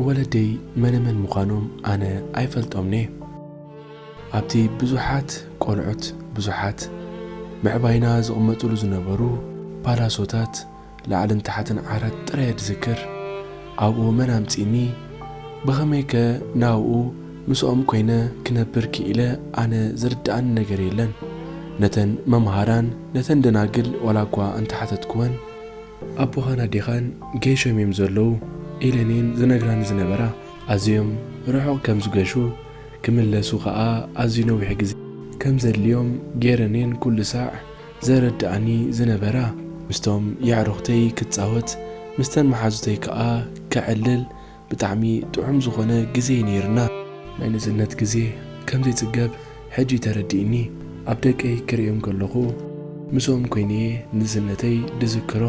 ወለደይ መነመን ምዃኖም ኣነ ኣይፈልጦምኒ ኣብቲ ብዙሓት ቆልዑት ብዙሓት ምዕባይና ዝቕመጥሉ ዝነበሩ ፓላሶታት ላዕልን ታሕትን ዓራት ጥራየ ዝዝክር ኣብኡ መን ኣምጺኒ ብኸመይከ ናብኡ ምስኦም ኮይነ ክነብር ክኢለ ኣነ ዝርድኣኒ ነገር የለን ነተን መምሃራን ነተን ደናግል ዋላ እኳ እንተሓተትክወን፣ ኣቦኻን ኣዴኻን ገይሾም እዮም ዘለዉ ኢለን እየን ዝነግራኒ ዝነበራ ኣዝዮም ርሑቕ ከም ዝገሹ ክምለሱ ከኣ ኣዝዩ ነዊሕ ግዜ ከም ዘድልዮም ገይረን እየን ኩሉ ሳዕ ዘረድኣኒ ዝነበራ ምስቶም የዕሩኽተይ ክጻወት ምስተን መሓዙተይ ከኣ ከዕልል ብጣዕሚ ጥዑም ዝኾነ ግዜ ነይርና። ናይ ንእስነት ግዜ ከምዘይጽገብ ሕጂ ተረዲእኒ ኣብ ደቀይ ክርእዮም ከለኹ ምስኦም ኮይነየ ንእስነተይ ድዝክሮ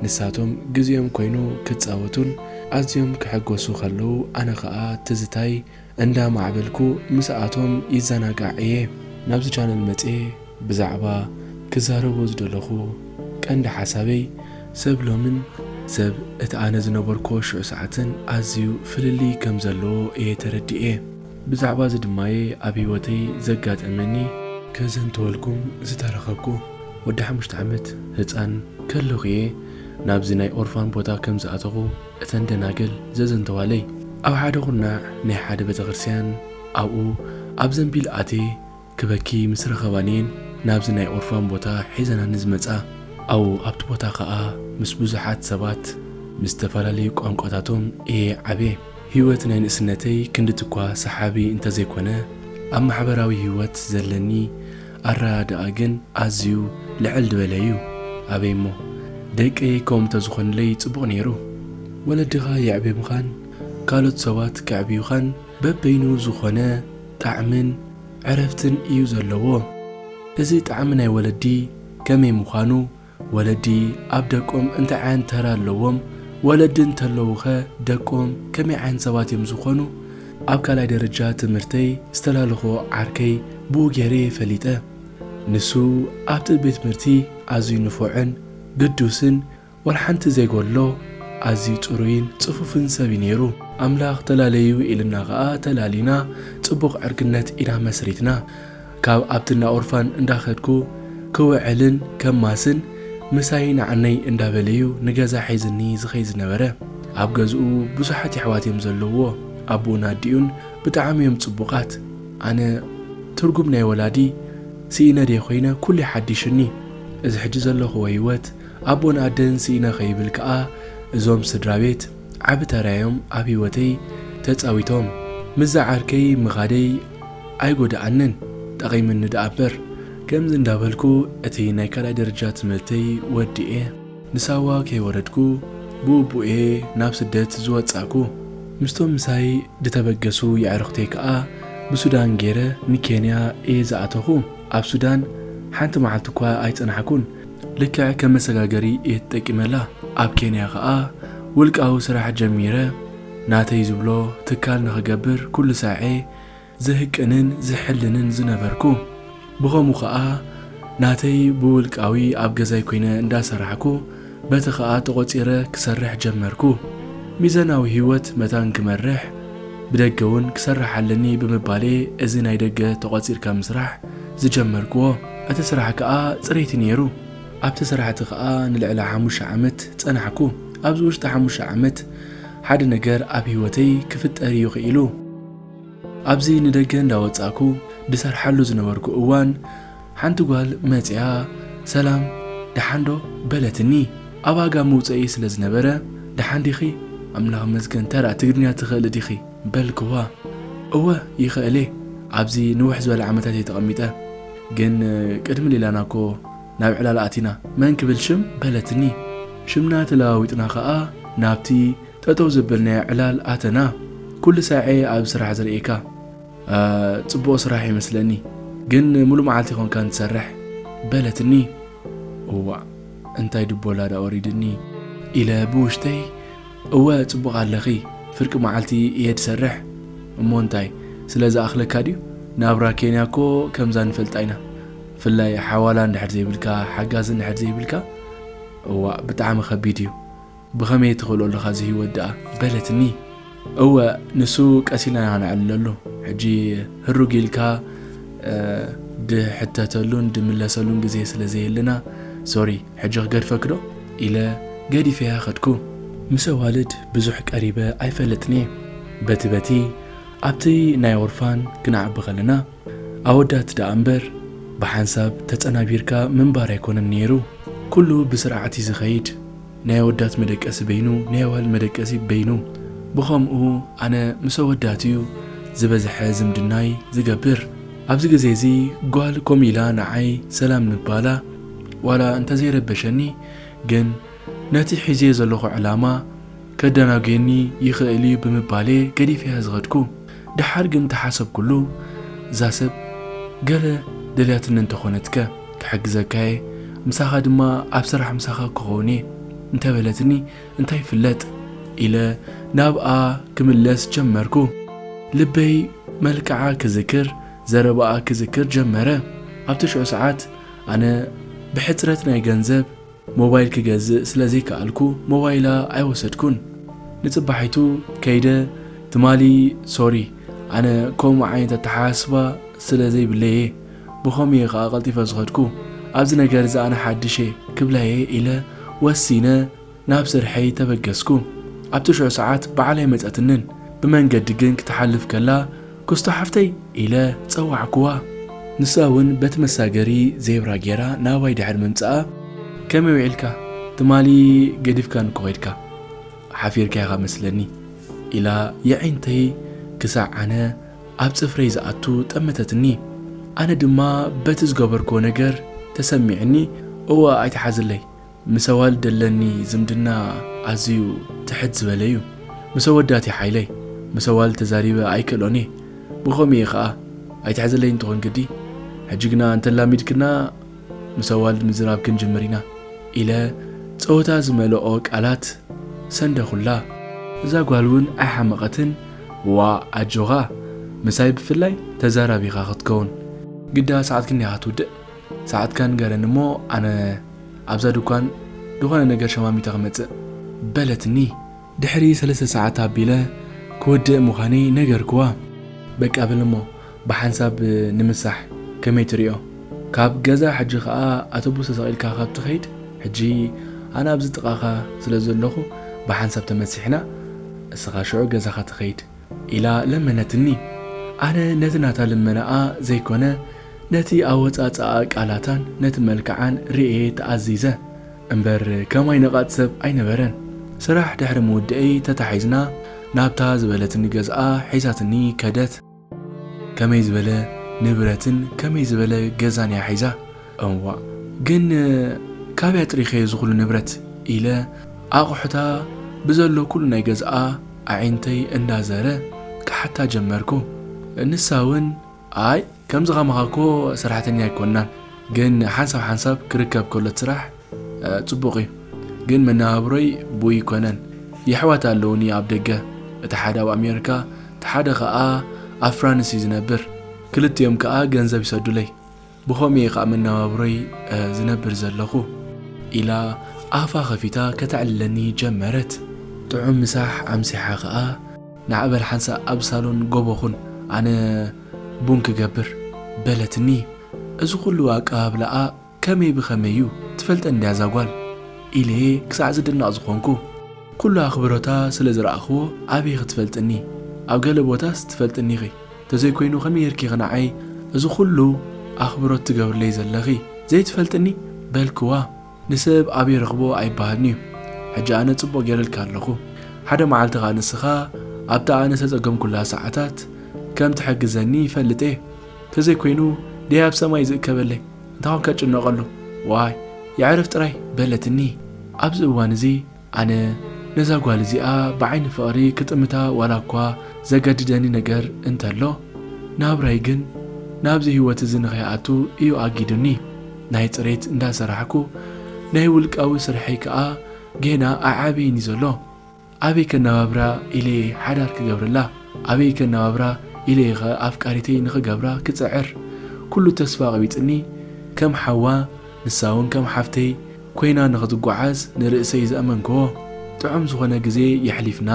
ንሳቶም ግዜኦም ኮይኑ ክጻወቱን ኣዝዮም ክሕጎሱ ከለዉ ኣነ ከኣ ትዝታይ እንዳ ማዕበልኩ ምስኣቶም ይዘናጋዕ እየ ናብዚ ቻነል መጽየ ብዛዕባ ክዛረቦ ዝደለኩ ቀንዲ ሓሳበይ ሰብ ሎምን ሰብ እቲ ኣነ ዝነበርኩዎ ሽዑ ሰዓትን ኣዝዩ ፍልልይ ከም ዘለዎ እየ ተረዲኤ ብዛዕባ እዚ ድማ እየ ኣብ ሂወተይ ዘጋጠመኒ ከዘንትወልኩም ዝተረከብኩ ወዲ ሓሙሽተ ዓመት ህጻን ከለኩ እየ ናብዚ ናይ ኦርፋን ቦታ ከም ዝኣተኩ። እተን ደናግል ዘዘንተዋለይ፣ ኣብ ሓደ ዅርናዕ ናይ ሓደ ቤተ ክርስትያን፣ ኣብኡ ኣብ ዘንቢል ኣትየ ክበኪ ምስ ረኸባኒ'የን ናብዚ ናይ ኦርፋን ቦታ ሒዘናኒ ዝመጻ። ኣብኡ ኣብቲ ቦታ ኸኣ ምስ ብዙሓት ሰባት፣ ምስ እተፈላለዩ ቋንቋታቶም እየ ዓብየ። ህይወት ናይ ንእስነተይ ክንድቲ'ኳ ሰሓቢ እንተ ዘይኰነ፣ ኣብ ማሕበራዊ ህይወት ዘለኒ፣ ኣረዳድኣ ግን ኣዝዩ ልዕል ድበለ እዩ ኣበይ እሞ ደቀይ ከምኡ ተዝኾንለይ ጽቡቅ ነይሩ ወለድኻ የዕብብኻን ካልኦት ሰባት ከዕብዩኻን በበይኑ ዝኾነ ጣዕምን ዕረፍትን እዩ ዘለዎ እዚ ጣዕሚ ናይ ወለዲ ከመይ ምዃኑ ወለዲ ኣብ ደቆም እንታይ ዓይነት ተራ ኣለዎም? ወለዲ እንተለዉኸ ደቆም ከመይ ዓይነት ሰባት እዮም ዝኾኑ? ኣብ ካልኣይ ደረጃ ትምህርተይ ዝተላለኹዎ ዓርከይ ብኡ ገይረ እየ ፈሊጠ። ንሱ ኣብቲ ቤት ትምህርቲ ኣዝዩ ንፉዕን ግዱስን ዋላ ሓንቲ ዘይጎድሎ ኣዝዩ ጽሩይን ጽፉፍን ሰብ እዩ ነይሩ። ኣምላኽ ተላለዩ ኢሉና ከኣ ተላሊና ጽቡቕ ዕርክነት ኢና መስሪትና። ካብ ኣብቲ እንዳ ኦርፋን እንዳ ከድኩ ክውዕልን ከማስን ምሳይ ናዓነይ እንዳ በለ እዩ ንገዛ ሒዝኒ ዝከይድ ዝነበረ ኣብ ገዝኡ ብዙሓት የሕዋት እዮም ዘለውዎ ኣቡኡን ኣዲኡን ብጣዓሚ እዮም ጽቡቃት ኣነ ትርጉም ናይ ወላዲ ሲኢነ ድየ ኮይነ ኩሉ ይሓዲሽኒ እዚ ሕጂ ዘለክዎ ሂወት ኣቦን ኣደን ሲኢነ ከይብል ከኣ እዞም ስድራቤት ዓቢ ተራ እዮም ኣብ ሂወተይ ተጻዊቶም ምስዛ ዓርከይ ምካደይ ኣይጎደኣንን ጠቒምኒ ደኣበር ከምዚ እንዳበልኩ እቲ ናይ ካልኣይ ደረጃ ትምህርተይ ወዲኤ ንሳዋ ከይወረድኩ ብኡብኡየ ናብ ስደት ዝወጻእኩ ምስቶም ምሳይ ድተበገሱ የዕሩኽተይ ከኣ ብሱዳን ጌረ ንኬንያ እየ ዝኣተኹ ኣብ ሱዳን ሓንቲ መዓልቲ እኳ ኣይጸናሕኩን ልክዕ ከም መሰጋገሪ እየ ተጠቂመላ ኣብ ኬንያ ከኣ ውልቃዊ ስራሕ ጀሚረ ናተይ ዝብሎ ትካል ንኽገብር ኩሉ ሳዔ ዝህቅንን ዝሕልንን ዝነበርኩ። ብኸምኡ ከኣ ናተይ ብውልቃዊ ኣብ ገዛይ ኮይነ እንዳሰራሕኩ በቲ ከኣ ተቖጺረ ክሰርሕ ጀመርኩ። ሚዛናዊ ህይወት መታን ክመርሕ ብደገ ውን ክሰርሕ ኣለኒ ብምባል'የ እዚ ናይ ደገ ተቖጺርካ ምስራሕ ዝጀመርክዎ። እቲ ስራሕ ከኣ ጽሬቲ ነይሩ። ኣብቲ ስራሕ'ቲ ከኣ ንልዕሊ ሓሙሽተ ዓመት ጸናሕኩ። ኣብዚ ውሽጢ ሓሙሽተ ዓመት ሓደ ነገር ኣብ ህይወተይ ክፍጠር እዩ ክኢሉ። ኣብዚ ንደገ እንዳወጻእኩ ድሰርሓሉ ዝነበርኩ እዋን ሓንቲ ጓል መጺኣ ሰላም ደሓን ዶ በለትኒ። ኣብ ኣጋ መውጸኢ ስለ ዝነበረ ደሓን ዲኺ ኣምላኽ ይመስገን ተራ ትግርኛ ትኽእሊ ዲኺ በልክዋ። እወ ይኽእል እየ ኣብዚ ንውሕ ዝበለ ዓመታት እየ ተቐሚጠ ግን ቅድሚ ሌላና እኮ ናብ ዕላል ኣቲና። መን ክብል ሽም በለትኒ። ሽምና ተለዋዊጥና ከኣ ናብቲ ጠጠው ዘበልናዮ ዕላል ኣተና። ኩሉ ሳዔ ኣብ ስራሕ ዝርእየካ ጽቡቕ ስራሕ ይመስለኒ። ግን ምሉእ መዓልቲ ኮንካን ትሰርሕ? በለትኒ። እዋእ እንታይ ድቦላ ደኣ ወሪድኒ! ኢለ ብውሽጠይ። እወ ጽቡቕ ኣለኺ፣ ፍርቂ መዓልቲ እየ ድሰርሕ። እሞ እንታይ ስለ ዝኣኽለካ ድዩ? ናብራ ኬንያ እኮ ከምዛ ንፈልጣ ኢና። ብፍላይ ሓዋላ እንድሕር ዘይብልካ ሓጋዚ እንድሕር ዘይብልካ እዋእ ብጣዕሚ ከቢድ እዩ ብኸመይ ትኽእሎ ኣለኻ እዚ ህይወት ደኣ በለትኒ እወ ንሱ ቀስ ኢልና ኢና ክነዕልለሉ ሕጂ ህሩግ ኢልካ ድሕተተሉን ድምለሰሉን ግዜ ስለ ዘየለና ሶሪ ሕጂ ክገድፈኪ ዶ ኢለ ገዲፈያ ከድኩ ምስ ኣዋልድ ብዙሕ ቀሪበ ኣይፈልጥን እየ በቲ በቲ ኣብቲ ናይ ኦርፋን ክንዓቢ ከለና ኣወዳት ደኣ እምበር ብሓንሳብ ተጸናቢርካ ምንባር ኣይኮነን ኔሩ ኩሉ ብስርዓት እዩ ዝኸይድ ናይ ኣወዳት መደቀሲ በይኑ ናይ ኣዋልድ መደቀሲ በይኑ ብኸምኡ ኣነ ምስ ኣወዳት እዩ ዝበዝሐ ዝምድናይ ዝገብር ኣብዚ ግዜ እዚ ጓል ከምኡ ኢላ ንዓይ ሰላም ምባላ ዋላ እንተዘይረበሸኒ ግን ነቲ ሒዘዮ ዘለኹ ዕላማ ከደናጉየኒ ይኽእል እዩ ብምባል'የ ገዲፈያ ዝኸድኩ። ደሓር ግን ተሓሰብኩሉ እዛ ሰብ ገለ ደልያትኒ እንተኾነትከ ክሕግዘካየ ምሳኻ ድማ ኣብ ስራሕ ምሳኻ ክኸውንየ እንተበለትኒ እንታይ ይፍለጥ ኢለ ናብኣ ክምለስ ጀመርኩ ልበይ መልክዓ ክዝክር ዘረባኣ ክዝክር ጀመረ ኣብቲ ሽዑ ሰዓት ኣነ ብሕጽረት ናይ ገንዘብ ሞባይል ክገዝእ ስለ ዘይከኣልኩ ሞባይላ ኣይወሰድኩን ንጽባሒቱ ከይደ ትማሊ ሶሪ ኣነ ከምኡ ዓይነት ኣተሓሳስባ ስለ ዘይብለይ እየ ብኸምኡ እየ ከኣ ቀልጢፈ ዝኸድኩ ኣብዚ ነገር እዚ ኣነ ሓድሽ እየ ክብላ እየ ኢለ ወሲነ ናብ ስርሐይ ተበገስኩ ኣብ ትሽዑ ሰዓት በዓል ኣይመጸትንን ብመንገዲ ግን ክትሓልፍ ከላ ክስቶ ሓፍተይ ኢለ ጸዋዕክዋ። ንሳ ውን በቲ መሳገሪ ዜብራ ጌራ ናባይ ድሕሪ ምምጻኣ። ከመይ ውዒልካ? ትማሊ ገዲፍካኒ እኮ ኬድካ። ሓፊርካ ኢኻ መስለኒ። ኢላ የዒንተይ ክሳዕ ኣነ ኣብ ጽፍረይ ዝኣቱ ጠመተትኒ። ኣነ ድማ በቲ ዝገበርክዎ ነገር ተሰሚዑኒ እወ ኣይትሓዝለይ ምስ ኣዋልድ ደለኒ ዝምድና ኣዝዩ ትሕት ዝበለ እዩ ምስ ኣወዳት እዩ ሓይለይ ምስ ኣዋልድ ተዛሪበ ኣይክእሎን እየ ብከምኡ እየ ከኣ ኣይትሕዘለይን ትኮን ግዲ ሕጂ ግና እንተ ኣላሚድክና ምስ ኣዋልድ ምዝራብ ክንጅምር ኢና ኢለ ጸወታ ዝመልኦ ቃላት ሰንደኩላ። እዛ ጓል ውን ኣይሓመቀትን ዋእ ኣጆካ ምሳይ ብፍላይ ተዛራቢካ ክትከውን ግዳ ሰዓት ክንደይ ኢካ ትውድእ ሰዓትካ ንገረኒ እሞ ኣነ ኣብዛ ድኳን ዝኾነ ነገር ሸማሚተ ክመጽእ። በለትኒ። ድሕሪ ሰለስተ ሰዓት ኣቢለ ክወድእ ምዃነይ ነገርክዋ። በቃ በል እሞ ብሓንሳብ ንምሳሕ ከመይ ትሪኦ? ካብ ገዛ ሕጂ ከኣ ኣቶቡስ ተሰቒልካ ካብ ትኸይድ ሕጂ ኣነ ኣብዚ ጥቓኻ ስለ ዘለኹ ብሓንሳብ ተመሲሕና እስኻ ሽዑ ገዛኻ ትኸይድ። ኢላ ለመነትኒ። ኣነ ነቲ ናታ ልመናኣ ዘይኮነ ነቲ ኣወጻጽኣ ቃላታን ነቲ መልክዓን ርእየ ተኣዚዘ። እምበር ከማይ ነቓጽ ሰብ ኣይነበረን። ስራሕ ድሕሪ ምውድኤይ ተታሒዝና ናብታ ዝበለትኒ ገዝኣ ሒዛትኒ ከደት። ከመይ ዝበለ ንብረትን ከመይ ዝበለ ገዛን'ያ ሒዛ? እዋእ ግን ካበይ ኣጥሪከዮ እዚ ኩሉ ንብረት ኢለ ኣቁሑታ ብዘሎ ኩሉ ናይ ገዝኣ ኣዒንተይ እንዳ ዘረ ክሓታ ጀመርኩ ንሳ ውን ኣይ ከምዚ ከማካ እኮ ሰራሕተኛ ኣይኮናን ግን ሓንሳብ ሓንሳብ ክርከብ ከሎ እቲ ስራሕ ጽቡቅ እዩ ግን መነባብሮይ ብኡ ኣይኮነን የሕዋት ኣለውኒ ኣብ ደገ እቲ ሓደ ኣብ ኣሜርካ እቲ ሓደ ከኣ ኣብ ፍራንስ እዩ ዝነብር ክልቲኦም ከኣ ገንዘብ ይሰዱለይ ብኸምኡ እየ ኸኣ መነባብሮይ ዝነብር ዘለኹ። ኢላ ኣፋ ኸፊታ ከተዕልለኒ ጀመረት። ጥዑም ምሳሕ ኣምሲሓ ኸኣ፣ ንዓ በል ሓንሳእ ኣብ ሳሎን ጎቦ ኹን፣ ኣነ ቡን ክገብር። በለትኒ። እዚ ኹሉ ኣቀባብላኣ ከመይ ብኸመይ እዩ? ትፈልጠኒ ድያ እዛ ጓል? ኢለ'የ ክሳዕ ዝድነቕ ዝኾንኩ። ኩሉ ኣኽብሮታ ስለ ዝረኣኹዎ ኣበይ ኽትፈልጥኒ? ኣብ ገለ ቦታስ ትፈልጥኒ'ኺ። ተዘይኮይኑ ከመይ ጌርኪ ኢኺ ንዓይ እዚ ኩሉ ኣኽብሮት ትገብርለይ ዘለኺ? ዘይትፈልጥኒ? በልክዋ። ንሰብ ኣብ ይረኽቦ ኣይበሃልን'ዩ። ሕጂ ኣነ ጽቡቕ ጌረልኪ ኣለኹ። ሓደ መዓልቲ ከኣ ንስኻ ኣብታ ኣነ ዝተጸገምኩላ ሰዓታት ከም ትሕግዘኒ ይፈልጥ'የ። ተዘይኮይኑ ደይ ኣብ ሰማይ ዝእከበለይ እንታይ'ኮን ከጭነቐሉ? ዋይ የዕርፍ ጥራይ! በለትኒ። ኣብዚ እዋን'ዚ ኣነ ነዛ ጓል እዚኣ ብዓይኒ ፍቕሪ ክጥምታ ዋላ እኳ ዘገድደኒ ነገር እንተሎ፣ ናብራይ ግን ናብዚ ህይወት እዚ ንኸይኣቱ እዩ ኣጊዱኒ። ናይ ጽሬት እንዳ ሰራሕኩ፣ ናይ ውልቃዊ ስርሐይ ከኣ ጌና ኣይዓበየን እዩ ዘሎ። ኣበይ ከነባብራ ኢለ እየ ሓዳር ክገብረላ? ኣበይ ከነባብራ ኢለ እየ ከ ኣፍቃሪተይ ንኽገብራ ክጽዕር? ኩሉ ተስፋ ቐቢጽኒ። ከም ሓዋ ንሳ'ውን ከም ሓፍተይ ኮይና ንክትጓዓዝ ንርእሰይ ዝኣመንክዎ ጥዑም ዝኾነ ግዜ የሕሊፍና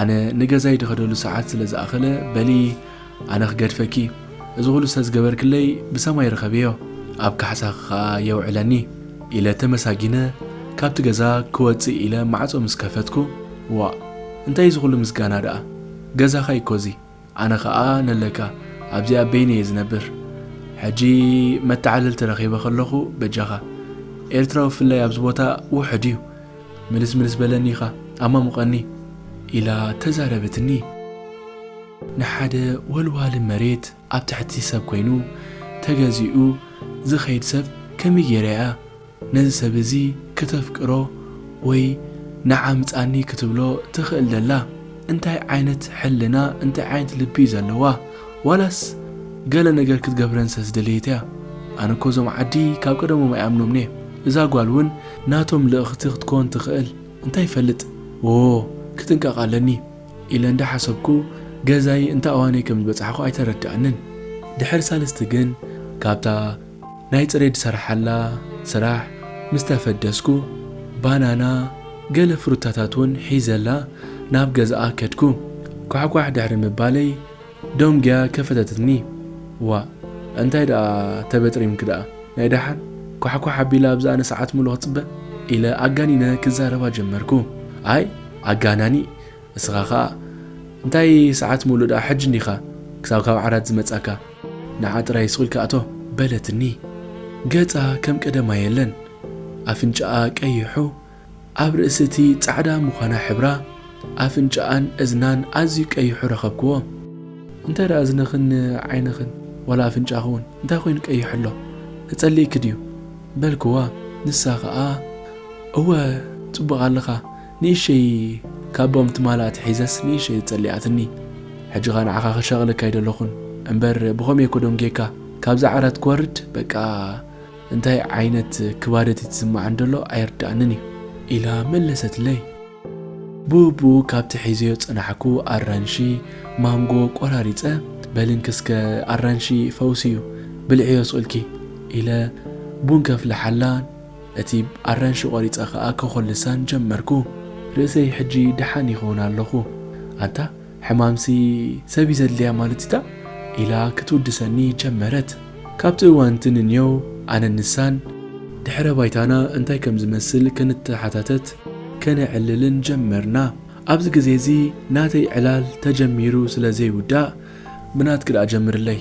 ኣነ ንገዛይ ድኸደሉ ሰዓት ስለ ዝኣኸለ በሊ ኣነ ክገድፈኪ እዚ ኹሉ ስለ ዝገበርክለይ ብሰማይ ርኸብዮ ኣብ ካሕሳኺ ኸኣ የውዕለኒ ኢለ ተመሳጊነ ካብቲ ገዛ ክወጽእ ኢለ ማዕጾ ምስ ከፈትኩ ዋእ እንታይ እዚ ኹሉ ምስጋና ደኣ ገዛኻ እዩኮ እዚ ኣነ ከኣ ነለካ ኣብዚ ኣብ በይነይ እየ ዝነብር ሕጂ መተዓልልቲ ረኺበ ከለኹ በጃኻ ኤርትራዊ ብፍላይ ኣብዚ ቦታ ውሑድ እዩ ምልስ ምልስ በለኒ ኢኻ ኣማሙቐኒ ኢላ ተዛረበትኒ። ንሓደ ወልዋሊ መሬት ኣብ ትሕቲ ሰብ ኮይኑ ተገዚኡ ዝኸይድ ሰብ ከመይ ጌረ እያ ነዚ ሰብ እዚ ክተፍቅሮ ወይ ንዓ ምጻኒ ክትብሎ ትኽእል ደላ እንታይ ዓይነት ሕልና እንታይ ዓይነት ልቢ እዩ ዘለዋ ዋላስ ገለ ነገር ክትገብረን ስለ ዝደለየት እያ ኣነ እኮ እዞም ዓዲ ካብ ቀደሞም ኣይኣምኖምን እየ እዛ ጓል ውን ናቶም ልእኽቲ ክትኮን ትኽእል እንታይ ይፈልጥ ዎዎ ክጥንቀቕ ኣለኒ ኢለ እንዳ ሓሰብኩ ገዛይ እንታ ኣዋነይ ከም ዝበጻሕኩ ኣይተረዳኣንን ድሕሪ ሳልስቲ ግን ካብታ ናይ ጽሬድ ሰራሓላ ስራሕ ምስ ተፈደስኩ፣ ባናና ገለ ፍሩታታት ውን ሒዘላ ናብ ገዛኣ ከድኩ። ኳሕኳሕ ድሕሪ ምባለይ ደንጉያ ከፈተትኒ። ዋእ እንታይ ደኣ ተበጥሪምኪ ደኣ ናይ ደሓን? ኳሕኳሕ ኣቢላ ኣብ ዝኣኒ ሰዓት ምሉእ ክጽበ? ኢለ ኣጋኒነ ክዛረባ ጀመርኩ። ኣይ ኣጋናኒ እስኻ ከኣ እንታይ ሰዓት ምሉእ ደኣ ሕጂ እንዲኻ ክሳብ ካብ ዓራት ዝመጻካ? ንዓ ጥራይ ሱቕ ኢልካ እቶ በለትኒ። ገጻ ከም ቀደማ የለን። ኣፍንጫኣ ቀይሑ ኣብ ርእሲ እቲ ጻዕዳ ምዃና ሕብራ ኣፍንጫኣን እዝናን ኣዝዩ ቀይሑ ረኸብክዎ። እንታይ ደኣ እዝንኽን ዓይንኽን ዋላ ኣፍንጫኽውን እንታይ ኮይኑ ቀይሕ ኣሎ ተጸሊእኪ ድዩ በልክዋ ንሳ ከኣ እወ ጽቡቕ ኣለኻ ንእሽተይ ካቦም ትማል ኣትሒዘስ ንእሽተይ ኣጸሊኣትኒ ሕጂኻ ንዓኻ ክሸቅለካ ኣይደለኹን እምበር ብኸምይ እኮ ደንጌካ ካብዛ ዓራት ክወርድ በቃ እንታይ ዓይነት ክባደት ይትስማዓኒ ደሎ ኣይርዳኣንን እዩ ኢላ መለሰትለይ ብኡብኡ ካብቲ ሒዘዮ ጸናሕኩ ኣራንሺ ማንጎ ቆራሪጸ በልንኪ እስከ ኣራንሺ ፈውሲ እዩ ብልዕዮ ስቅልኪ ኢለ ቡን ከፍልሓላ እቲ ኣራንሺ ቆሪጸ ከኣ ከኾልሳን ጀመርኩ። ርእሰይ ሕጂ ደሓን ይኸውን ኣለኹ። ኣንታ ሕማምሲ ሰብ እዩ ዘድልያ ማለት እዩ'ታ? ኢላ ክትውድሰኒ ጀመረት። ካብቲ እዋን'ቲ ንንየው ኣነን ንሳን ድሕረ ባይታና እንታይ ከም ዝመስል ክንተሓታተት ከነዕልልን ጀመርና። ኣብዚ ግዜ እዚ ናተይ ዕላል ተጀሚሩ ስለ ዘይውዳእ ብናትኪ ደኣ ጀምርለይ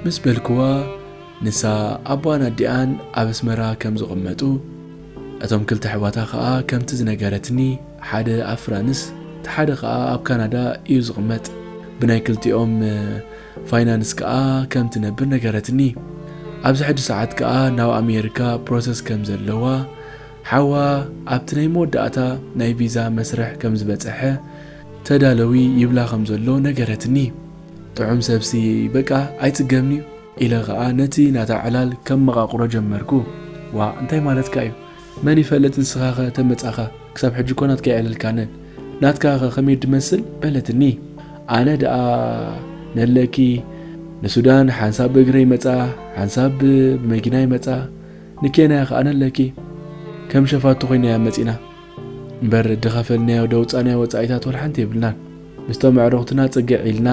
ምስ በልክዋ፣ ንሳ፣ ኣቦኣን ኣዲኣን ኣብ ኣስመራ ከም ዝቕመጡ፣ እቶም ክልተ ኣሕዋታ ከኣ ከምቲ ዝነገረትኒ ሓደ ኣብ ፍራንስ እቲ ሓደ ከኣ ኣብ ካናዳ ኢዩ ዝቕመጥ። ብናይ ክልቲኦም ፋይናንስ ከኣ ከም ትነብር ነገረትኒ። ኣብዚ ሕጂ ሰዓት ከኣ ናብ ኣሜሪካ ፕሮሰስ ከም ዘለዋ፣ ሓዋ ኣብቲ ናይ መወዳእታ ናይ ቪዛ መስርሕ ከም ዝበጸሐ ተዳለዊ ይብላ ከም ዘሎ ነገረትኒ። ጥዑም ሰብሲ በቃ ኣይጽገምን'ዩ። ኢለ ከኣ ነቲ ናታ ዕላል ከመቓቕሮ ጀመርኩ። ዋእ እንታይ ማለትካ እዩ? መን ይፈልጥ ንስኻኸ ተመጻኻ ክሳብ ሕጂ እኮ ናትካ ኣይዕለልካንን። ናትካኸ ከመይ ድመስል? በለትኒ። ኣነ ደኣ ነለኪ ንሱዳን ሓንሳብ ብእግረ ይመጻ ሓንሳብ ብመኪና ይመጻ ንኬንያ ከኣ ነለኪ ከም ሸፋቱ ኮይና እያ መጺና። እምበር ድኸፈልናዮ ደውፃናዮ ወፃኢታት ወልሓንቲ የብልናን ምስቶም ኣዕሩኽትና ፅግዕ ኢልና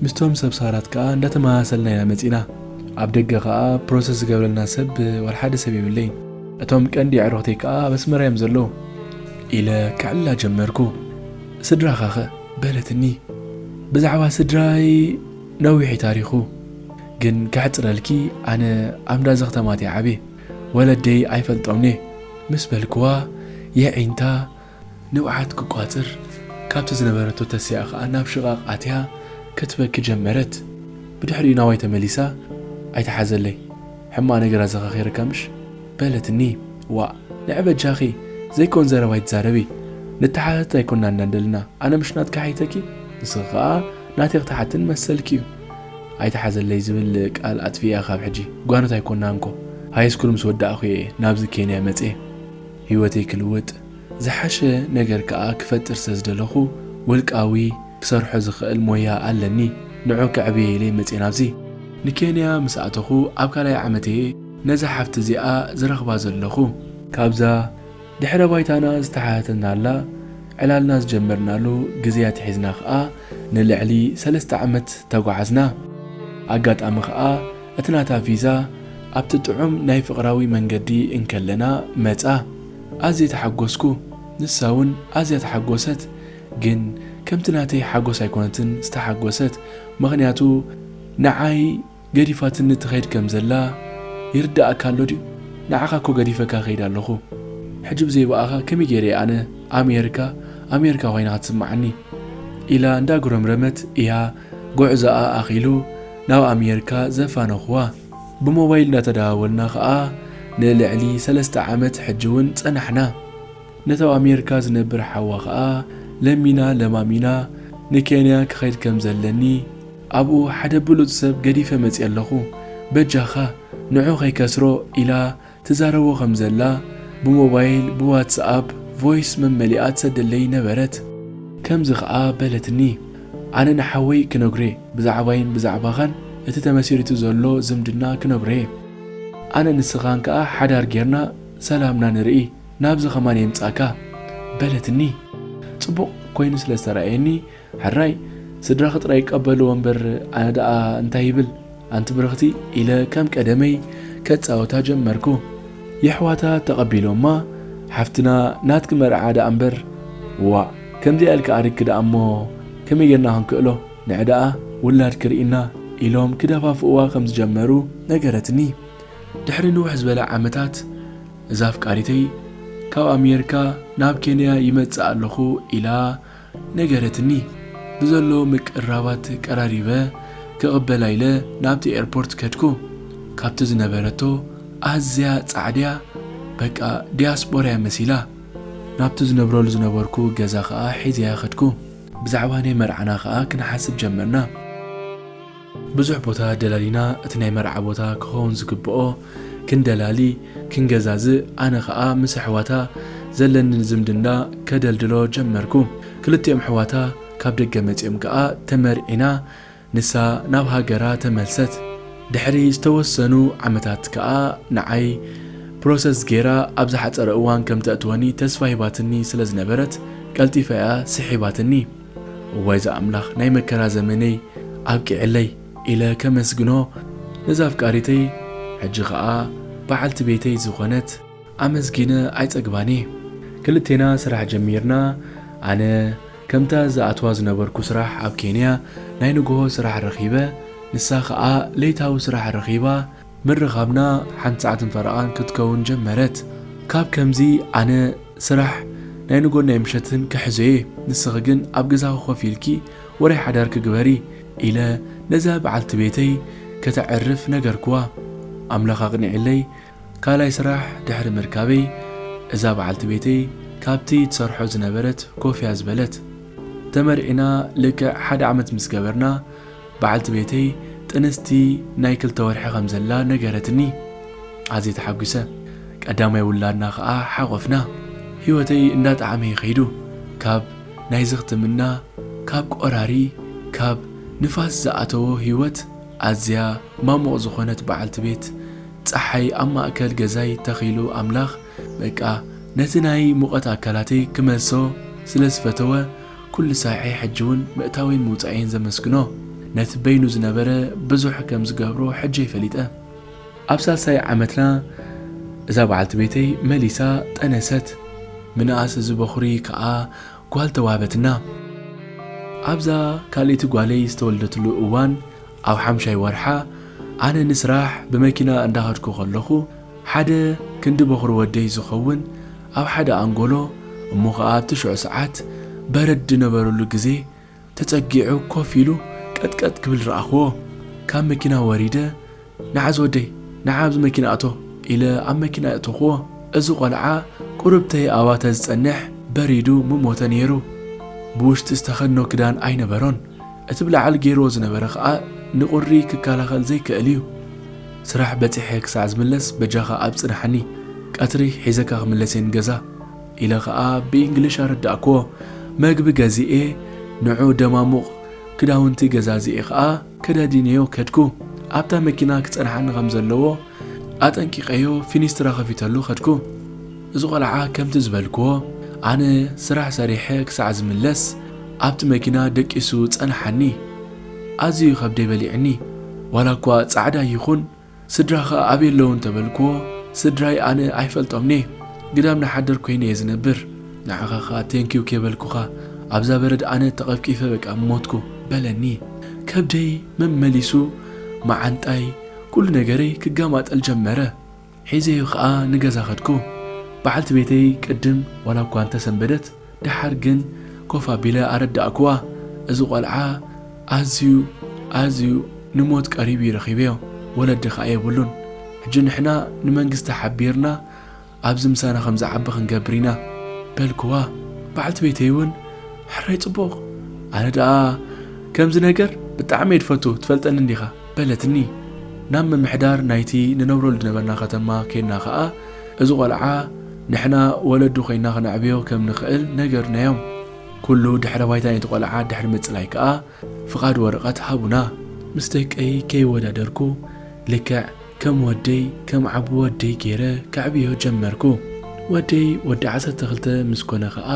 ምስቶም ሰብ ሳራት ከዓ እንዳተመሳሰልና ኢና መፂና ኣብ ደገ ከዓ ፕሮሰስ ዝገብረልና ሰብ ወልሓደ ሰብ የብለይን እቶም ቀንዲ ኣዕሩኽተይ ከዓ ኣብ ኣስመራ እዮም ዘለዉ ኢለ ከዕልላ ጀመርኩ ስድራኻ ከ በለትኒ ብዛዕባ ስድራይ ነዊሕ እዩ ታሪኹ ግን ከሕፅረልኪ ኣነ ኣብ እንዳዘኽተማት እየ ዓብየ ወለደይ ኣይፈልጦምን'የ ምስ በልክዋ የዒንታ ንብዓት ክቋጽር ካብቲ ዝነበረቶ ተሲኣ ከኣ ናብ ሽቓቕ ኣትያ ክትበኪ ጀመረት። ብድሕሪኡ ናባይ ተመሊሳ ኣይትሓዘለይ ሕማቕ ነገር ኣዘኻኺረካ ምሽ? በለትኒ። ዋእ ንዒ በጃኺ ዘይኮን ዘረባ ኣይትዛረቢ ንተሓታተት ኣይኮናን ዘለና ኣነ ምሽ ናትኪ ሓይተኪ ንስኺ ከኣ ናተይ ክትሓትኒ መሰልኪ'ዩ። ኣይትሓዘለይ ዝብል ቃል ኣጥፊኣ ካብ ሕጂ ጓኖት ኣይኮናን እኮ ሃይስኩል ምስ ወዳእኩ እየ ናብዚ ኬንያ መጽየ ሂወተይ ክልውጥ ዝሓሸ ነገር ከኣ ክፈጥር ስለ ዝደለኹ ውልቃዊ ክሰርሖ ዝኽእል ሞያ ኣለኒ ንዑ ከዕብየ ኢለ መጽየ ናብዚ ንኬንያ ምስ ኣተኹ ኣብ ካልኣይ ዓመት እየ ነዛ ሓፍቲ እዚኣ ዝረኽባ ዘለኹ። ካብዛ ድሕረ ባይታና ዝተሓተትናላ ዕላልና ዝጀመርናሉ ግዜ ኣትሒዝና ከኣ ንልዕሊ ሰለስተ ዓመት ተጓዓዝና። ኣጋጣሚ ከኣ እቲ ናታ ቪዛ ኣብቲ ጥዑም ናይ ፍቕራዊ መንገዲ እንከለና መጻ። ኣዝየ ተሓጎስኩ፣ ንሳውን ኣዝያ ተሓጎሰት። ግን ከምቲ ናተይ ሓጎስ ኣይኮነትን ዝተሓጎሰት፣ ምኽንያቱ ንዓይ፣ ገዲፋትኒ ትኸይድ ከም ዘላ ይርደኣካ ኣሎ ድዩ ንዓኻ እኮ ገዲፈካ ይኸይድ ኣለኹ ሕጂ ብዘይ ብኣኻ ከመይ ጌረ እየ ኣነ ኣሜርካ ኣሜርካ ኮይና ክትስምዓኒ ኢላ እንዳ ጉረምረመት እያ ጉዕዞኣ ኣኺሉ ናብ ኣሜርካ ዘፋነኹዋ ብሞባይል እንዳ ተደዋወልና ከኣ ንልዕሊ ሰለስተ ዓመት ሕጂ ውን ጸናሕና ነቲ ኣብ ኣሜርካ ዝነብር ሓዋ ከኣ ለሚና ለማሚና ንኬንያ ክኸይድ ከም ዘለኒ ኣብኡ ሓደ ብሉጽ ሰብ ገዲፈ መጺኣ ኣለኹ፣ በጃኻ ንዑ ከይከስሮ ኢላ ትዛረቦ ከም ዘላ ብሞባይል ብዋትስ ኣፕ ቮይስ መመሊኣ ትሰደለይ ነበረት። ከምዚ ከኣ በለትኒ፣ ኣነ ንሓወይ ክነግሮ'የ፣ ብዛዕባይን ብዛዕባኻን እቲ ተመሲሪቱ ዘሎ ዝምድና ክነግሮ'የ። ኣነ ንስኻን ከኣ ሓዳር ጌርና ሰላምና ንርኢ፣ ናብዚ ከማን የምጽኣካ። በለትኒ። ጽቡቕ ኮይኑ ስለ ዝተራእየኒ ሕራይ ስድራኺ ጥራይ ይቀበልዎ እምበር ኣነ ደኣ እንታይ ይብል ኣንቲ ብርኽቲ ኢለ ከም ቀደመይ ከጻውታ ጀመርኩ። የሕዋታ ተቐቢሎማ ሓፍትና ናትኪ መርዓ ደኣ እምበር ዋእ ከምዚኣ ኢልኪ ኣሪግኪ ደኣ እሞ ከመይ ጌርና ክንክእሎ ንዒ ደኣ ውላድኪ ርኢና ኢሎም ክደፋፍእዋ ከም ዝጀመሩ ነገረትኒ። ድሕሪ ንውሕ ዝበለ ዓመታት እዛ ኣፍቃሪተይ ካብ ኣሜርካ ናብ ኬንያ ይመጽእ ኣለኹ ኢላ ነገረትኒ። ብዘሎ ምቅርራባት ቀራሪበ ክቕበላ ኢለ ናብቲ ኤርፖርት ከድኩ። ካብቲ ዝነበረቶ ኣዝያ ጻዕድያ በቃ ዲያስጶራ'ያ መሲላ። ናብቲ ዝነብረሉ ዝነበርኩ ገዛ ከኣ ሒዘያ ከድኩ። ብዛዕባ ናይ መርዓና ከኣ ክንሓስብ ጀመርና። ብዙሕ ቦታ ደላሊና እቲ ናይ መርዓ ቦታ ክኸውን ዝግብኦ ክንደላሊ ክንገዛዝእ ኣነ ከኣ ምስ ኣሕዋታ ዘለኒ ዝምድና ከደልድሎ ጀመርኩ ክልቲኦም ኣሕዋታ ካብ ደገ መጺኦም ከኣ ተመርዒና ንሳ ናብ ሃገራ ተመልሰት ድሕሪ ዝተወሰኑ ዓመታት ከኣ ንዓይ ፕሮሰስ ጌራ ኣብ ዝሓጸረ እዋን ከምተእትወኒ ተስፋ ሂባትኒ ስለ ዝነበረት ቀልጢፋ እያ ስሒባትኒ። እዋይ ዛኣምላኽ ናይ መከራ ዘመነይ ኣብቂዕለይ ኢለ ከመስግኖ ነዛ ኣፍቃሪተይ ሕጂ ከኣ በዓልቲ ቤተይ ዝኾነት ኣመስጊነ ኣይጸግባን እየ። ክልቴና ስራሕ ጀሚርና ኣነ ከምታ ዝኣትዋ ዝነበርኩ ስራሕ ኣብ ኬንያ ናይ ንግሆ ስራሕ ረኺበ ንሳ ከኣ ለይታዊ ስራሕ ረኺባ፣ ምርኻብና ሓንቲ ሰዓትን ፈረቓን ክትከውን ጀመረት። ካብ ከምዚ ኣነ ስራሕ ናይ ንጎን ናይ ምሸትን ክሕዞ'የ፣ ንስኺ ግን ኣብ ገዛኺ ኮፍ ኢልኪ ወረ ሓዳርኪ ግበሪ ኢለ ነዛ በዓልቲ ቤተይ ከተዕርፍ ነገርክዋ። ኣምላኽ ኣቕኒዕለይ ካልኣይ ስራሕ ድሕሪ ምርካበይ እዛ በዓልቲ ቤተይ ካብቲ ትሰርሖ ዝነበረት ኮፍ'ያ ዝበለት። ተመርዒና ልክዕ ሓደ ዓመት ምስ ገበርና፣ በዓልቲ ቤተይ ጥንስቲ ናይ ክልተ ወርሒ ከም ዘላ ነገረትኒ። ኣዝየ ተሓጒሰ። ቀዳማይ ውላድና ከኣ ሓቖፍና። ህይወተይ እንዳጠዓመ'ዩ ከይዱ። ካብ ናይ ዝኽትምና፣ ካብ ቆራሪ፣ ካብ ንፋስ ዝኣተዎ ህይወት ኣዝያ ማሙቕ ዝኾነት በዓልቲ ቤት ጸሓይ ኣብ ማእከል ገዛይ ተኺሉ ኣምላኽ በቃ ነቲ ናይ ሙቐት ኣካላተይ ክመልሶ ስለ ዝፈተወ ኩሉ ሳዔ ሕጂውን ምእታወይን ምውጻኤይን ዘመስግኖ ነቲ በይኑ ዝነበረ ብዙሕ ከም ዝገብሮ ሕጂ'የ ፈሊጠ። ኣብ ሳልሳይ ዓመትና እዛ በዓልቲ ቤተይ መሊሳ ጠነሰት። ምንኣስ እዚ በዅሪ ከኣ ጓል ተዋህበትና። ኣብዛ ካልኣይቲ ጓለይ ዝተወልደትሉ እዋን ኣብ ሓምሻይ ወርሓ ኣነ ንስራሕ ብመኪና እንዳኸድኩ ከለኹ ሓደ ክንዲ በዅሪ ወደይ ዝኸውን ኣብ ሓደ ኣንጎሎ እሞ ኸኣ ኣብቲ ሽዑ ሰዓት በረድ ዝነበረሉ ግዜ ተጸጊዑ ኮፍ ኢሉ ቀጥቀጥ ክብል ረኣኹዎ። ካብ መኪና ወሪደ ንዓዝ ወደይ ንዓ ኣብዚ መኪና እቶ ኢለ ኣብ መኪና ኣእተኹዎ። እዚ ቆልዓ ቁርብተይ ኣብኣ ተዝጸንሕ በሪዱ ምሞተ ነይሩ። ብውሽጢ ዝተኸድኖ ክዳን ኣይነበሮን። እቲ ብላዕሊ ገይሩዎ ዝነበረ ኸኣ ንቁሪ ክከላኸል ዘይክእል እዩ። ስራሕ በጺሐ ክሳዕ ዝምለስ በጃኻ ኣብጽንሓኒ ቀትሪ ሒዘካ ክምለስ'የ ንገዛ ኢለ ከኣ ብኢንግሊሽ ኣረዳእክዎ መግቢ ገዚኤ ንዑ ደማሙቕ ክዳውንቲ ገዛዚኤ ከኣ ከዳዲነዮ ከድኩ ኣብታ መኪና ክጸንሓኒ ከም ዘለዎ ኣጠንቂቐዮ ፊኒስትራ ከፊተሉ ከድኩ እዚ ቆልዓ ከምቲ ዝበልክዎ ኣነ ስራሕ ሰሪሐ ክሳዕ ዝምለስ ኣብቲ መኪና ደቂሱ ጸንሓኒ። ኣዝዩ ከብደይ በሊዑኒ ዋላ እኳ ጻዕዳ ይኹን ስድራኻ ኣበይ ኣለዉ እንተበልክዎ ስድራይ ኣነ ኣይፈልጦምንየ ግዳም ንሓደር ኮይነየ ዝነብር ንዓኻ ኸኣ ቴንኪው ከይበልኩኻ ኣብዛ በረድ ኣነ ተቐፍቂፈ በቃ ምሞትኩ በለኒ ከብደይ መመሊሱ መዓንጣይ ኩሉ ነገረይ ክጋማጠል ጀመረ ሒዘዮ ከኣ ንገዛ ከድኩ። በዓልቲ ቤተይ ቅድም ዋላ እኳ እንተ ሰንበደት፣ ደሓር ግን ኮፍ ኣቢለ ኣረዳእኩዋ፣ እዚ ቈልዓ ኣዝዩ ኣዝዩ ንሞት ቀሪቡ እዩ ረኺበዮ፣ ወለዲ ከኣ የብሉን። ሕጂ ንሕና ንመንግስቲ ሓቢርና ኣብዚ ምሳና ከም ዝዓቢ ክንገብር ኢና። በልኩዋ። በዓልቲ ቤተይ እውን ሕራይ ጽቡቕ! ኣነ ደኣ ከምዚ ነገር ብጣዕሚ እየ ድፈቱ፣ ትፈልጠኒ እንዲኻ። በለትኒ። ናብ ምምሕዳር ናይቲ ንነብረሉ ዝነበርና ከተማ ኬድና ከኣ፣ እዚ ቆልዓ ንሕና ወለዱ ኮይንና ክነዕብዮ ከም ንኽእል ነገርናዮም። ኩሉ ድሕረ ባይታ ናይቲ ቆልዓ ድሕሪ ምጽላይ ከኣ ፍቓድ ወረቐት ሃቡና። ምስ ደቀይ ከይወዳደርኩ፣ ልክዕ ከም ወደይ፣ ከም ዓቢ ወደይ ገይረ ከዕብዮ ጀመርኩ። ወደይ ወዲ ዓሰርተ ክልተ ምስ ኮነ ከኣ፣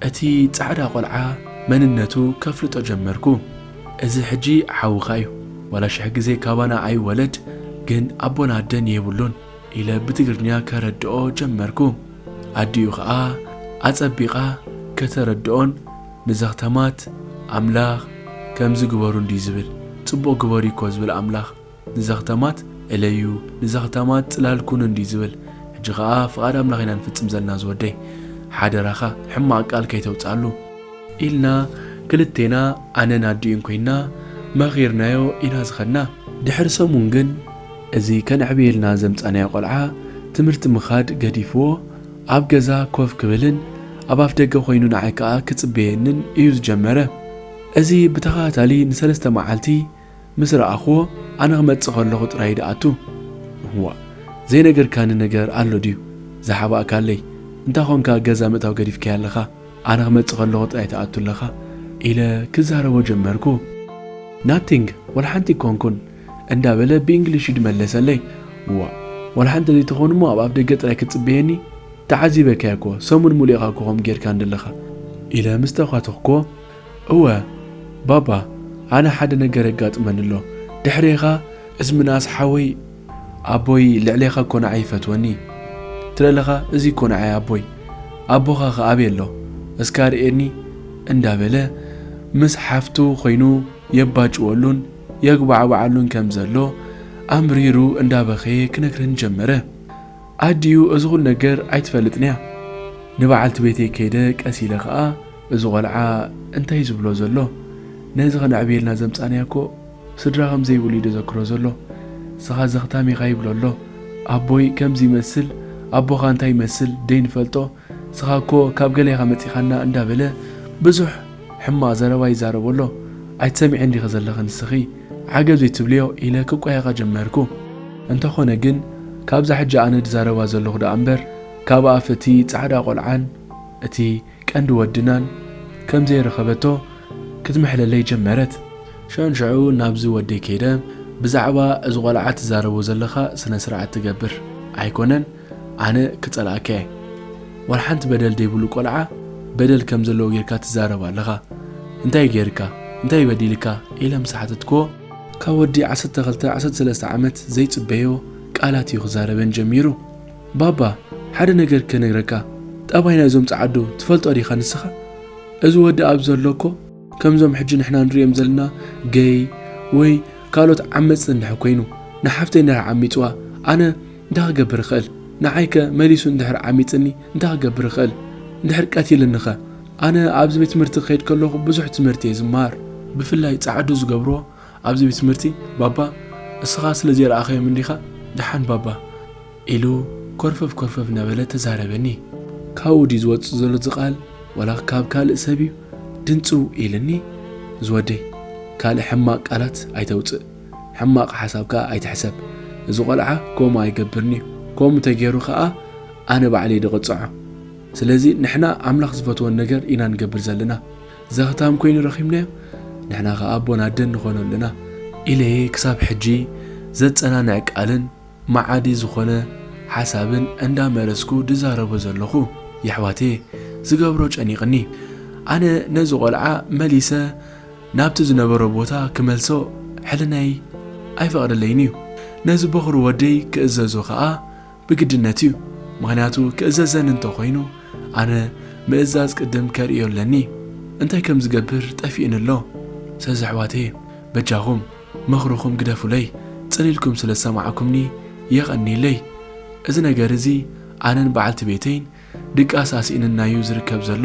እቲ ጻዕዳ ቆልዓ መንነቱ ከፍልጦ ጀመርኩ እዚ ሕጂ ሓውካ እዩ ዋላ ሽሕ ግዜ ካባና ኣይወለድ ግን ኣቦን ኣደን የብሉን ኢለ ብትግርኛ ከረድኦ ጀመርኩ ኣዲኡ ከኣ ኣጸቢቃ ከተረድኦን ንዘክተማት ኣምላክ ከምዚ ግበሩ እንድዩ ዝብል ጽቡቅ ግበሩ እዩኮ ዝብል ኣምላክ ንዘኽታማት እለዩ ንዘኽታማት ጽላል ኩኑ እንድዩ ዝብል ሕጂ ከኣ ፍቃድ ኣምላኽ ኢና ንፍጽም ዘለና ዝወደይ ሓደራኻ ሕማቅ ቃል ከይተውጽኣሉ። ኢልና ክልቴና ኣነን ኣዲኡን ኮይና መኺርናዮ ኢና ዝኸድና። ድሕሪ ሰሙን ግን እዚ ከነዕብየልና ዘምጻናዮ ቆልዓ ትምህርቲ ምኻድ ገዲፍዎ ኣብ ገዛ ኮፍ ክብልን ኣብ ኣፍደገ ኮይኑ ንዓይ ከኣ ክጽበየንን ኢዩ ዝጀመረ እዚ ብተኸታታሊ ንሰለስተ መዓልቲ ምስ ረኣኹዎ ኣነ ክመጽእ ከለኹ ጥራይ ድኣቱ? እዋእ ዘይነገርካኒ ነገር ኣሎ ድዩ? ዝሓባእካለይ? እንታይ ኾንካ ገዛ ምእታው ገዲፍካያ ኣለኻ? ኣነ ክመጽእ ከለኹ ጥራይ ትኣቱ ኣለኻ? ኢለ ክዛረቦ ጀመርኩ። ናቲንግ፣ ዋላ ሓንቲ ኣይኮንኩን፣ እንዳበለ ብእንግሊሽ እዩ ድመለሰለይ። እዋእ ዋላ ሓንቲ ተዘይትኸውን እሞ ኣብ ኣፍደገ ጥራይ ክትጽበየኒ? ተዓዚበካያኮ፣ ሰሙን ሙሉእ ኢኻኮ ከምኡ ጌርካኒ ደለኻ። ኢለ ምስ ተዃተኽኩዎ እወ ባባ ኣነ ሓደ ነገር የጋጥመኒ ኣሎ ድሕሬኻ እዚ ምንኣስ ሓወይ ኣቦይ ልዕሌኻ ኮናዐ ይፈትወኒ ትለለኻ እዚ ኮናዐ ኣቦይ ኣቦኻ ከ ኣበይ ኣሎ እስከ ኣርእየኒ እንዳበለ ምስ ሓፍቱ ኮይኑ የባጭወሉን የጉባዕባዓሉን ከም ዘሎ ኣምሪሩ እንዳበኸየ ክነግረኒ ጀመረ ኣዲኡ እዚ ኹሉ ነገር ኣይትፈልጥንያ ንበዓልቲ ቤተይ ከይደ ቀስ ኢለ ኸኣ እዚ ቆልዓ እንታይ እዩ ዝብሎ ዘሎ ነዚ ከነዕብየልና ዘምጻናዮ እኮ ስድራ ከም ዘይብሉ እዩ ደዘክሮ ዘሎ እስኻ ዘኽታም ኢኻ ይብሎ ኣሎ ኣቦይ ከምዚ ይመስል ኣቦኻ እንታይ ይመስል ደይንፈልጦ እስኻ እኮ ካብ ገለ ኢኻ መጺኻና እንዳበለ ብዙሕ ሕማቕ ዘረባ ይዛረቦ ኣሎ ኣይትሰሚዕን ዲኺ ዘለኺ ንስኺ ዓገብ ዘይትብልዮ ኢለ ክቋየቓ ጀመርኩ እንተኾነ ግን ካብዛ ሕጂ ኣነ ድዛረባ ዘለኹ ደኣ እምበር ካብ ኣፍ እቲ ጻዕዳ ቆልዓን እቲ ቀንዲ ወድናን ከም ዘይረኸበቶ ክትምሕለለይ ጀመረት። ሸንሸዑ ናብዚ ወደይ ከይደ ብዛዕባ እዚ ቆልዓ ትዛረቦ ዘለኻ ስነ ስርዓት ትገብር ኣይኮነን ኣነ ክጸልኣካ'የ ዋላ ሓንቲ በደል ደይብሉ ቆልዓ በደል ከም ዘለዎ ጌርካ ትዛረብ ኣለኻ እንታይ ጌርካ እንታይ በዲልካ ኢለ ምስ ሓተትክዎ ካብ ወዲ ዓሰርተ ክልተ ዓሰርተ ሰለስተ ዓመት ዘይጽበዮ ቃላት እዩ ክዛረበን ጀሚሩ። ባባ ሓደ ነገር ክነግረካ ጠባይ ናይዞም ጸዓዱ ትፈልጦ ዲካ ንስካ እዚ ወዲ ኣብዚ ዘሎ እኮ ከምዞም ሕጂ ንሕና ንርእዮም ዘለና ገይ ወይ ካልኦት ዓመጽቲ እንድሕር ኮይኑ ንሓፍተይ እንድሕር ዓሚጽዋ ኣነ እንታይ ክገብር ይክእል ንዓይ ከ መሊሱ እንድሕር ዓሚጽኒ እንታይ ክገብር ይክእል እንድሕር ቀቲልኒ ከ ኣነ ኣብዚ ቤት ትምህርቲ ክከይድ ከለኩ ብዙሕ ትምህርቲ እየ ዝመሃር ብፍላይ ጸዓዱ ዝገብሮ ኣብዚ ቤትትምህርቲ ባባ እስኻ ስለ ዘይረኣኻዮም እንዲኻ ደሓን ባባ ኢሉ ኮርፈፍ ኮርፈፍ እናበለ ተዛረበኒ። ካብኡ ድዩ ዝወጽእ ዘሎ እዚ ቃል ዋላ ካብ ካልእ ሰብ'ዩ ድንጽው ኢልኒ ዝወደይ ካልእ ሕማቕ ቃላት ኣይተውጽእ ሕማቕ ሓሳብ ከኣ ኣይትሕሰብ እዚ ቆልዓ ከምኡ ኣይገብርን'ዩ ከምኡ ተጌሩ ከኣ ኣነ ባዕለይ ድቕጽዖ ስለዚ ንሕና ኣምላኽ ዝፈትዎ ነገር ኢና ንገብር ዘለና ዘኽታም ኮይኑ ረኺብናዮ ንሕና ከኣ ኣቦን ኣደን ንኾኖ ኣለና ኢለ እየ ክሳብ ሕጂ ዘጸናንዕ ቃልን መዓዲ ዝኾነ ሓሳብን እንዳ መረጽኩ ድዛረቦ ዘለኹ የሕዋተየ ዝገብሮ ጨኒቕኒ ኣነ ነዚ ቆልዓ መሊሰ ናብቲ ዝነበሮ ቦታ ክመልሶ ሕልናይ ኣይፈቕደለይን እዩ ነዚ ቦኽሪ ወደይ ክእዘዞ ከኣ ብግድነት እዩ ምክንያቱ ክእዘዘኒ እንተ ኮይኑ ኣነ ምእዛዝ ቅድም ከርእዮ ኣለኒ እንታይ ከም ዝገብር ጠፊእኒ ኣሎ ሰዚ ኣሕዋተየ በጃኩም ምክርኩም ግደፉለይ ጽን ኢልኩም ስለ ዝሰማዕኩምኒ የቀንይለይ እዚ ነገር እዚ ኣነን በዓልቲ ቤተይን ድቃስ ኣስኢንና እዩ ዝርከብ ዘሎ።